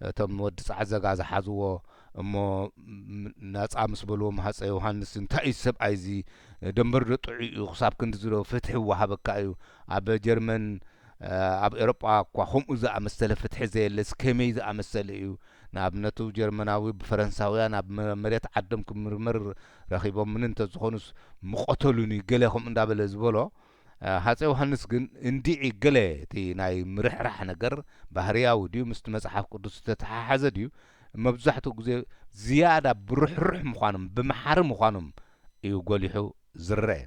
A: እቶም ወዲ ጻዕዘጋ ዝሓዝዎ እሞ ናጻ ምስ በልዎም ሃጸይ ዮሃንስ እንታይ እዩ እዚ ሰብኣይ እዚ ደንበር ዶ ጥዑይ እዩ ክሳብ ክንድዚ ዶ ፍትሒ ይወሃበካ እዩ ኣብ ጀርመን ኣብ ኤሮጳ እኳ ከምኡ ዝኣመሰለ ፍትሒ ዘየለስ ከመይ ዝኣመሰለ እዩ ንኣብነቱ ጀርመናዊ ብፈረንሳውያን ኣብ መሬት ዓዶም ክምርመር ረኺቦምኒ እንተዝኾኑስ ምቐተሉኒ ገለ ከምኡ እንዳበለ ዝበሎ ሃጸይ ዮሃንስ ግን እንድዒ ገለ እቲ ናይ ምርሕራሕ ነገር ባህርያዊ ድዩ ምስቲ መጽሓፍ ቅዱስ ዝተተሓሓዘ ድዩ መብዛሕትኡ ግዜ ዝያዳ ብርሕሩሕ ምዃኖም ብመሓሪ ምዃኖም እዩ ጎሊሑ ዝረኤ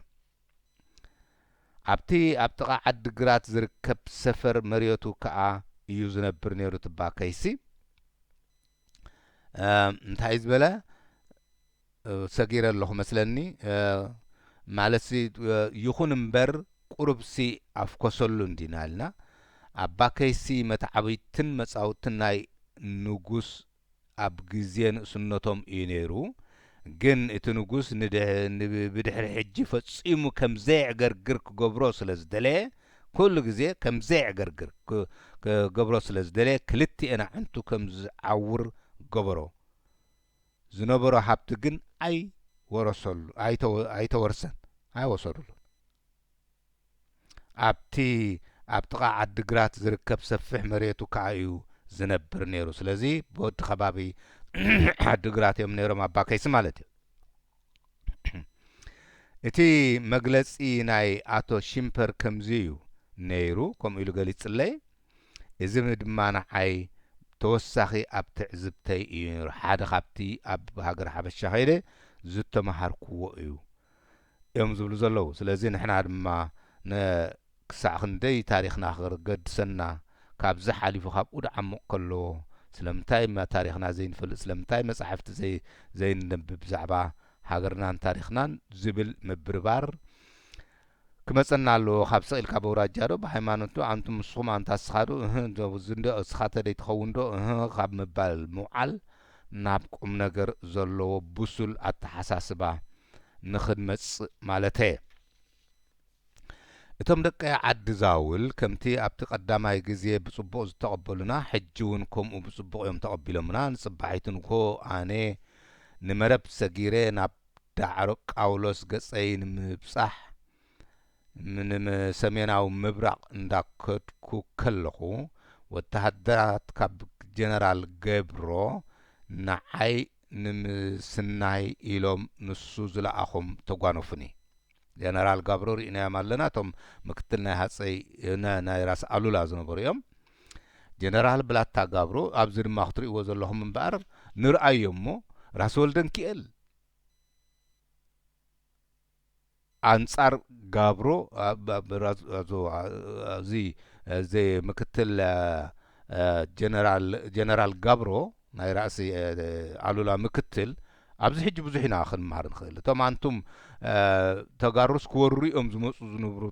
A: ኣብቲ ኣብ ጥቓ ዓዲ ግራት ዝርከብ ሰፈር መርየቱ ከኣ እዩ ዝነብር ነይሩ ትባ ከይሲ እንታይ እዩ ዝበለ ሰጊረ ኣለኹ መስለኒ ማለትሲ ይኹን እምበር ቁሩብሲ ኣፍኮሰሉ እንዲና ኢልና ኣባ ከይሲ መተዓብይትን መጻውትን ናይ ንጉስ ኣብ ግዜ ንእስነቶም እዩ ነይሩ ግን እቲ ንጉስ ብድሕሪ ሕጂ ፈጺሙ ከም ዘየዕገርግር ክገብሮ ስለ ዝደለየ ኩሉ ግዜ ከም ዘየዕገርግር ክገብሮ ስለ ዝደለየ ክልቲኤን ኣዕንቱ ከም ዝዓውር ገበሮ። ዝነበሮ ሃብቲ ግን ኣይ ወረሰሉ ኣይተወርሰን ኣይወሰዱሉን። ኣብቲ ኣብ ጥቓ ዓዲ ግራት ዝርከብ ሰፊሕ መሬቱ ከኣ እዩ ዝነብር ነይሩ። ስለዚ ብወዲ ከባቢ ዓዲ ግራት እዮም ነይሮም ኣባ ከይሲ ማለት እዩ። እቲ መግለጺ ናይ ኣቶ ሺምፐር ከምዚ እዩ ነይሩ ከምኡ ኢሉ ገሊጽለይ። እዚ ድማ ንዓይ ተወሳኺ ኣብ ትዕዝብተይ እዩ ነይሩ። ሓደ ካብቲ ኣብ ሃገረ ሓበሻ ከይደ ዝተመሃርኩዎ እዩ እዮም ዝብሉ ዘለዉ። ስለዚ ንሕና ድማ ን ክሳዕ ክንደይ ታሪኽና ክገድሰና ካብዚ ሓሊፉ ካብኡ ድዓሙቕ ከለዎ ስለምንታይ እማ ታሪኽና ዘይንፈልጥ ስለምንታይ መጻሕፍቲ ዘይ ዘይነንብብ ብዛዕባ ሃገርናን ታሪኽናን ዝብል ምብርባር ክመጸና ኣለዎ ካብ ስቕ ኢልካ በውራጃ ዶ ብሃይማኖት ዶ ኣንቱም ንስኹም ኣንታ እስኻ ዶ እህ ዶ እዚ ዶ እስኻ ተደይ ትኸውን ዶ እህ ካብ ምባል ምውዓል ናብ ቁምነገር ዘለዎ ብሱል ኣተሓሳስባ ንኽንመጽእ ማለተየ። እቶም ደቂ ዓዲ ዛውል ከምቲ ኣብቲ ቀዳማይ ግዜ ብጽቡቕ ዝተቐበሉና ሕጂ ውን ከምኡ ብጽቡቕ እዮም ተቐቢሎምና ንጽባሒቱ ንግሆ ኣነ ንመረብ ሰጊረ ናብ ዳዕሮ ቃውሎስ ገጸይ ንምብጻሕ ንሰሜናዊ ምብራቕ እንዳከድኩ ከለኹ ወተሃደራት ካብ ጀነራል ገብሮ ንዓይ ንምስናይ ኢሎም ንሱ ዝለኣኾም ተጓነፉኒ ጀነራል ጋብሮ ርኢናዮም ኣለና እቶም ምክትል ናይ ሃጸይ ን ናይ ራስ ኣሉላ ዝነበሩ እዮም ጀነራል ብላታ ጋብሮ ኣብዚ ድማ ክትርእይዎ ዘለኹም እምበኣር ንርኣዮ እሞ ራስ ወልደንኪኤል ኣንጻር ጋብሮ እዚ እዚ ምክትል ጀነራል ጀነራል ጋብሮ ናይ ራእሲ ኣሉላ ምክትል ኣብዚ ሕጂ ብዙሕ ኢና ክንምሃር ንክእል እቶም ኣንቱም ተጋሩስ ክወርሩ እዮም ዝመጹ ዝንብሩ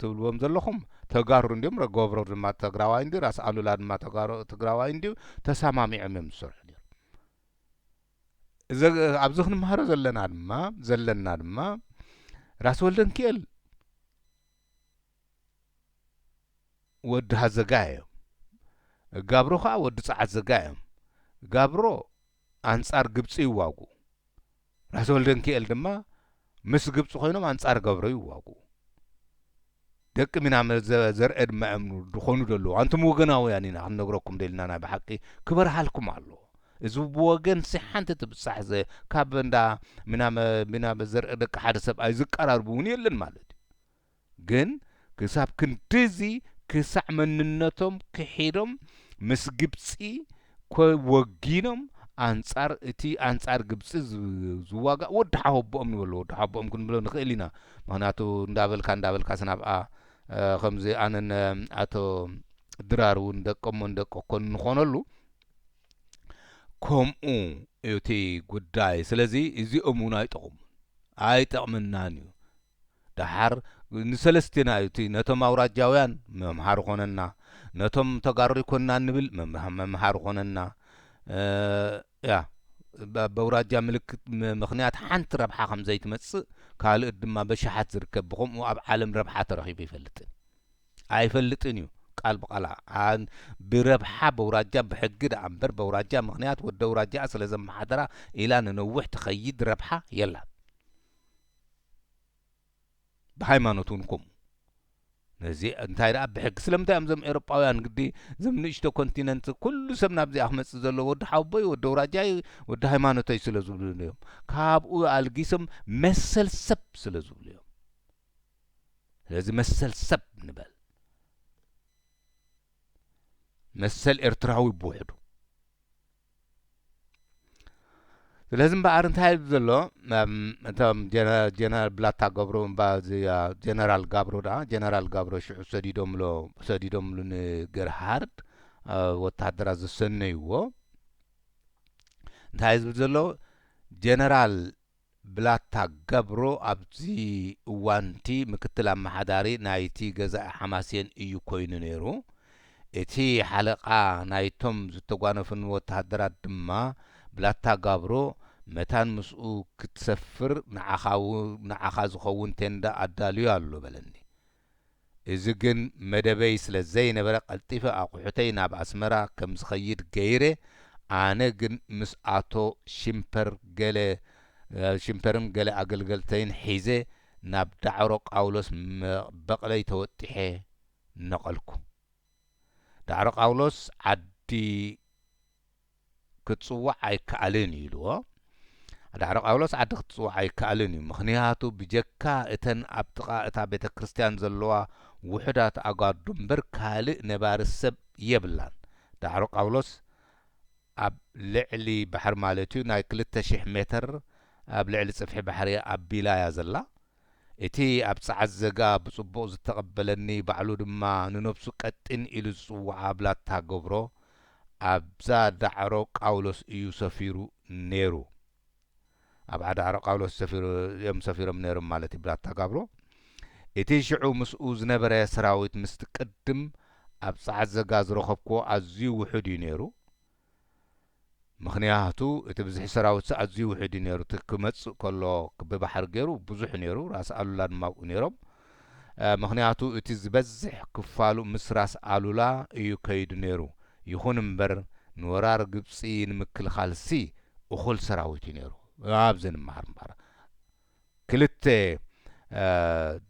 A: ትብልዎም ዘለኹም ተጋሩ እንድዮም ረገብረር ድማ ተግራዋይ እንድዩ ራስ ኣሉላ ድማ ተጋሩ ትግራዋይ እንድዩ ተሳማሚዖም እዮም ዝሰርሑ ነይሮም እዚ ኣብዚ ክንምሃሮ ዘለና ድማ ዘለና ድማ ራስ ወልደንኪኤል ወዲ ሃዘጋይ እዮም። ጋብሮ ከኣ ወዲ ጸዓት ዘጋይ እዮም። ጋብሮ ኣንጻር ግብጺ ይዋግኡ። ራስ ወልደንኪኤል ድማ ምስ ግብጺ ኮይኖም ኣንጻር ገብሮ ይዋግኡ። ደቂ ሚናመ ዘርኤ ድማ እዮም ድኾኑ ደለዉ። ኣንቱም ወገናውያን ኢና ክንነግረኩም ደልና ናይ ብሓቂ ክበርሃልኩም ኣለዎ። እዚ ብወገንሲ ሓንቲ ትብጻሕ ዘ ካብ እንዳ ሚናመ ሚናመ ዘርኤ ደቂ ሓደ ሰብኣይ ዝቀራርብ እውን የለን ማለት እዩ። ግን ክሳብ ክንድዚ ክሳዕ መንነቶም ክሒዶም ምስ ግብጺ ኮ ወጊኖም ኣንጻር እቲ ኣንጻር ግብጺ ዝዋጋእ ወዲ ሓወቦኦም ንበሎ ወዲ ሓወቦኦም ክንብሎ ንኽእል ኢና ምኽንያቱ እንዳበልካ እንዳበልካስ ናብኣ ከምዚ ኣነን ኣቶ ድራር እውን ደቀሞ ንደቀ ኮን ንኾነሉ ከምኡ እቲ ጉዳይ ስለዚ እዚኦም እውን ኣይጠቕሙን ኣይጠቕመናን እዩ ደሓር ንሰለስቴና እዩ እቲ ነቶም ኣውራጃውያን መምሃሪ ኮነና ነቶም ተጋሩ ኣይኮንናን ንብል መምሃሪ ኮነና እያ በውራጃ ምልክት ምክንያት ሓንቲ ረብሓ ከም ዘይትመጽእ ካልእት ድማ በሽሓት ዝርከብ ብከምኡ ኣብ ዓለም ረብሓ ተረኺቡ ይፈልጥን ኣይፈልጥን እዩ ቃል ብቃላ ብረብሓ በውራጃ ብሕጊ ደኣ እምበር በውራጃ ምክንያት ወደ ውራጃ ስለ ዘመሓደራ ኢላ ንነውሕ ትኸይድ ረብሓ የላን ብሃይማኖት ውን ከምኡ ነዚ እንታይ ደኣ ብሕጊ ስለምንታይ እዮም እዞም ኤሮጳውያን ግዲ እዞም ንእሽቶ ኮንቲነንት ኩሉ ሰብ ናብዚኣ ክመጽእ ዘለዎ ወዲ ሓውቦይ ወዲ ኣውራጃይ ወዲ ሃይማኖተይ ስለ ዝብሉ እዮም ካብኡ ኣልጊሶም መሰል ሰብ ስለ ዝብሉ እዮም ስለዚ መሰል ሰብ ንበል መሰል ኤርትራዊ ብውሕዱ ስለዚ እምበኣር እንታይ እዩ ዘሎ እቶም ጀነራል ብላታ ገብሩ እባ ጀነራል ጋብሩ ዳ ጀነራል ጋብሩ ሽዑ ሰዲዶምሎ ሰዲዶምሉ ንገርሃርድ ወተሃደራት ዘሰነይዎ እንታይ ዝብል ዘሎ ጀነራል ብላታ ገብሩ ኣብዚ እዋን'ቲ ምክትል ኣመሓዳሪ ናይቲ ገዛኢ ሓማሴን እዩ ኮይኑ ነይሩ። እቲ ሓለቓ ናይቶም ዝተጓነፉኒ ወተሃደራት ድማ፣ ብላታ ጋብሩ፣ መታን ምስኡ ክትሰፍር ንዓኻ ዝኸውን ቴንዳ ኣዳልዩ ኣሎ፣ በለኒ። እዚ ግን መደበይ ስለ ዘይነበረ ቀልጢፈ ኣቑሑተይ ናብ ኣስመራ ከም ዝኸይድ ገይረ፣ ኣነ ግን ምስ ኣቶ ሽምፐር ገለ ሽምፐርን ገለ ኣገልገልተይን ሒዘ ናብ ዳዕሮ ቃውሎስ በቕለይ ተወጢሐ ነቐልኩ። ዳዕሮ ቃውሎስ ዓዲ። ክትጽዋዕ ኣይከኣልን እዩ ኢልዎ። ዳዕሮ ቃውሎስ ዓዲ ክትጽዋዕ ኣይከኣልን እዩ፣ ምኽንያቱ ብጀካ እተን ኣብ ጥቓ እታ ቤተ ክርስቲያን ዘለዋ ውሑዳት ኣጓርዱ እምበር ካልእ ነባሪ ሰብ የብላን። ዳዕሮ ቃውሎስ ኣብ ልዕሊ ባሕሪ ማለት እዩ ናይ ክልተ ሽሕ ሜተር ኣብ ልዕሊ ጽፍሒ ባሕሪ ኣቢላ እያ ዘላ። እቲ ኣብ ጸዓት ዘጋ ብጽቡቕ ዝተቐበለኒ ባዕሉ ድማ ንነብሱ ቀጢን ኢሉ ዝጽውዓ ብላታ ገብሮ ኣብዛ ዳዕሮ ቃውሎስ እዩ ሰፊሩ ኔሩ ኣብዓ ዳዕሮ ቃውሎስ ሰፊሩ እዮም ሰፊሮም ኔሮም ማለት እዩ ብላታ ጋብሮ እቲ ሽዑ ምስኡ ዝነበረ ሰራዊት ምስቲ ቅድም ኣብ ጸዓት ዘጋ ዝረኸብክዎ ኣዝዩ ውሑድ እዩ ኔሩ ምኽንያቱ እቲ ብዝሒ ሰራዊትሲ ኣዝዩ ውሑድ እዩ ነይሩ እቲ ክመጽእ ከሎ ብባሕሪ ገይሩ ብዙሕ እዩ ነይሩ ራስ ኣሉላ ድማ ኣብኡ ነይሮም ምኽንያቱ እቲ ዝበዝሕ ክፋሉ ምስ ራስ ኣሉላ እዩ ከይዱ ነይሩ ይኹን እምበር ንወራር ግብጺ ንምክልኻልሲ እኹል ሰራዊት እዩ ነይሩ ኣብዚ ንመሃር እምበር ክልተ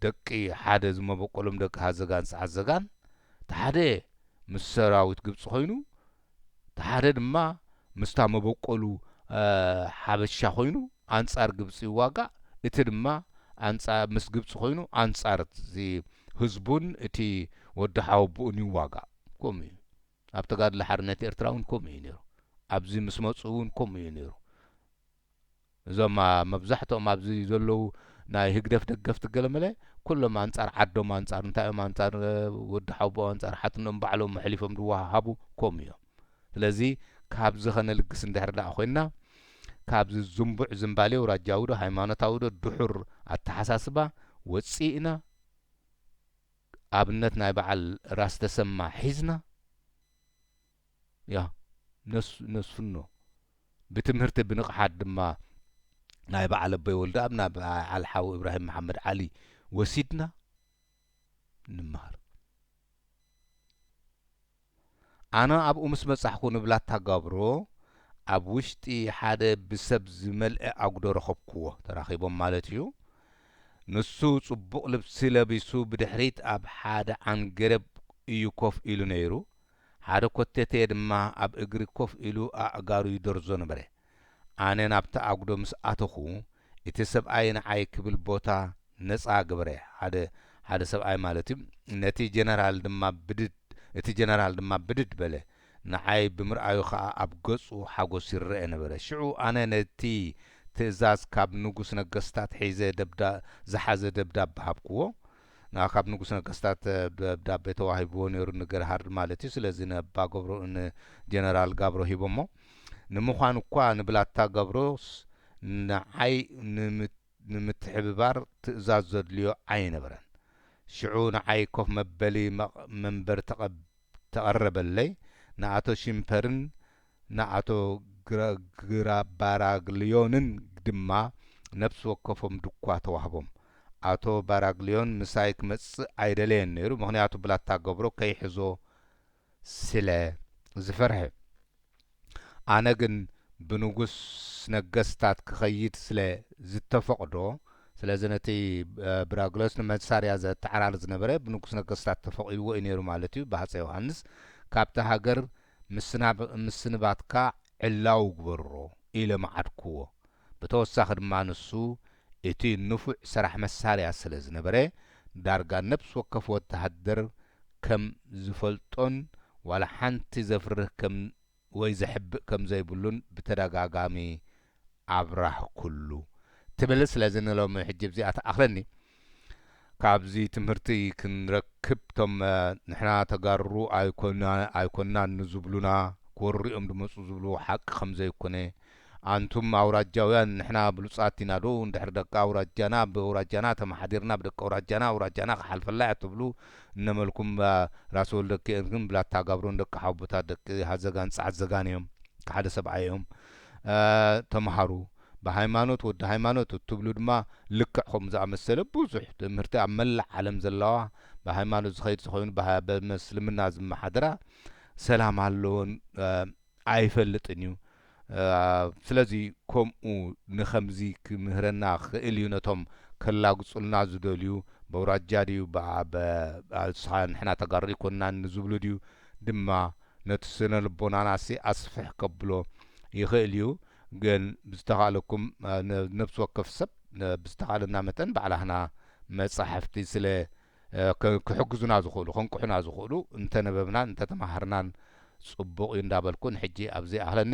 A: ደቂ ሓደ ዝመበቆሎም ደቂ ሃዘጋን ሰዓዘጋን እቲ ሓደ ምስ ሰራዊት ግብጺ ኮይኑ እቲ ሓደ ድማ ምስታ መበቆሉ ሓበሻ ኮይኑ ኣንጻር ግብጺ ይዋጋእ እቲ ድማ ምስ ግብጺ ኮይኑ ኣንጻር እቲ ህዝቡን እቲ ወዲ ሓወቡኡን ይዋጋእ ከምኡ እዩ ኣብ ተጋድሎ ሓርነት ኤርትራ ውን ከምኡ እዩ ነይሩ ኣብዚ ምስ መጹ ውን ከምኡ እዩ ነይሩ እዞም መብዛሕትኦም ኣብዚ ዘለዉ ናይ ህግደፍ ደገፍቲ ገለመለ ኩሎም ኣንጻር ዓዶም ኣንጻር እንታይ እዮም ኣንጻር ወዲ ሓውቦ ኣንጻር ሓትኖም ባዕሎም ኣሕሊፎም ዝወሃሃቡ ከምኡ እዮም ስለዚ ካብዚ ከነልግስ እንድሕር ደኣ ኮይንና ካብዚ ዝንቡዕ ዝምባሌ ኣውራጃዊ ዶ ሃይማኖታዊ ዶ ድሑር ኣተሓሳስባ ወጺእና ኣብነት ናይ በዓል ራስ ተሰማ ሒዝና ያህ ነሱ ነሱኖ ብትምህርቲ ብንቕሓት ድማ ናይ በዓል ኣቦይ ወልደኣብ ናብ በዓል ሓው እብራሂም መሓመድ ዓሊ ወሲድና ንመሃር። ኣነ ኣብኡ ምስ በጻሕኩ ንብላታ ጋብሮ ኣብ ውሽጢ ሓደ ብሰብ ዝመልኤ ኣጕዶ ረኸብኩዎ፣ ተራኺቦም ማለት ኢዩ። ንሱ ጽቡቕ ልብሲ ለቢሱ ብድሕሪት ኣብ ሓደ ዓንገረብ ኢዩ ኮፍ ኢሉ ነይሩ፣ ሓደ ኮቴቴ ድማ ኣብ እግሪ ኮፍ ኢሉ ኣእጋሩ ይደርዞ ነበረ። ኣነ ናብቲ ኣጉዶ ምስ ኣተኹ፣ እቲ ሰብኣይ ንዓይ ክብል ቦታ ነጻ ገበረ፣ ሓደ ሓደ ሰብኣይ ማለት'ዩ፣ ነቲ ጀነራል ድማ ብድድ እቲ ጀነራል ድማ ብድድ በለ፣ ንዓይ ብምርኣዩ ከኣ ኣብ ገጹ ሓጎስ ይረኣ ነበረ። ሽዑ ኣነ ነቲ ትእዛዝ ካብ ንጉስ ነገስታት ሒዘ ደብዳ ዝሓዘ ደብዳበ ሃብክዎ፣ ንኣካብ ንጉስ ነገስታት ደብዳቤ ተዋሂብዎ ነይሩ ንገርሃርድ ማለት'ዩ ስለዚ ንእባ ገብሮ ን ጀነራል ጋብሮ ሂቦሞ ንምዃኑ'ኳ ንብላታ ገብሮስ ንዓይ ንምትሕብባር ትእዛዝ ዘድልዮ ኣይነበረን ሽዑ ንዓይ ኮፍ መበሊ መንበር ተቐረበለይ ንኣቶ ሺምፐርን ንኣቶ ግረግራ ባራግልዮንን ድማ ነብሲ ወከፎም ዱኳ ተዋህቦም። ኣቶ ባራግልዮን ምሳይ ክመጽእ ኣይደለየን ነይሩ፣ ምኽንያቱ ብላታ ገብሮ ከይሕዞ ስለ ዝፈርሐ። ኣነ ግን ብንጉስ ነገስታት ክኸይድ ስለ ዝተፈቕዶ፣ ስለዚ ነቲ ብራግልዮስ ንመሳርያ ዘተዓራሪ ዝነበረ ብንጉስ ነገስታት ተፈቒድዎ እዩ ነይሩ ማለት'ዩ፣ ብሃጸይ ዮሃንስ ካብቲ ሃገር ምስናብ ምስንባትካ ዕላዊ ግበሮ ኢለ መዓድክዎ። ብተወሳኺ ድማ ንሱ እቲ ንፉዕ ሰራሕ መሳርያ ስለ ዝነበረ ዳርጋ ነብሲ ወከፍ ወተሃደር ከም ዝፈልጦን ዋላ ሓንቲ ዘፍርህ ከም ወይ ዘሕብእ ከም ዘይብሉን ብተደጋጋሚ ኣብራህ ኩሉ ትብል ስለዚ ንሎሚ ሕጂ ብዚኣ ትኣኽለኒ ካብዚ ትምህርቲ ክንረክብ እቶም ንሕና ተጋሩ ኣይኮናን ንዝብሉና ክወርሩዮም ድመጹ ዝብልዎ ሓቂ ከምዘይኮነ ኣንቱም ኣውራጃውያን ንሕና ብሉጻት ኢና ዶ እንድሕር ደቂ ኣውራጃና ብኣውራጃና ተማሓዲርና ብደቂ ኣውራጃና ኣውራጃና ክሓልፈላ እያ ትብሉ እነመልኩም ራስ ወልደኪኤልን ብላታ ጋብሮን ደቂ ሓውቦታት ደቂ ሃዘጋን ጻዕዘጋን እዮም ሓደ ሰብኣይ እዮም ተምሃሩ ብሃይማኖት ወዲ ሃይማኖት እትብሉ ድማ ልክዕ ከምኡ ዝኣመሰለ ብዙሕ ትምህርቲ ኣብ መላእ ዓለም ዘለዋ ብሃይማኖት ዝኸይድ ዝኸይኑ ብምስልምና ዝመሓደራ ሰላም ኣለዎን ኣይፈልጥን እዩ ስለዚ ከምኡ ንከምዚ ክምህረና ክኽእል እዩ ነቶም ከላግጹልና ዝደልዩ በውራጃ ድዩ ንሕና ተጋሩ ኣይኮንናን ንዝብሉ ድዩ ድማ ነቲ ስነ ልቦናናሲ ኣስፍሕ ከብሎ ይኽእል እዩ ግን ብዝተኻለኩም ነብሲ ወከፍ ሰብ ብዝተኻለና መጠን ባዕላህና መጻሕፍቲ ስለ ክሕግዙና ዝኽእሉ ከንቅሑና ዝኽእሉ እንተነበብናን እንተተማሃርናን ጽቡቕ እዩ እንዳበልኩ ንሕጂ ኣብዚ ኣኽለኒ።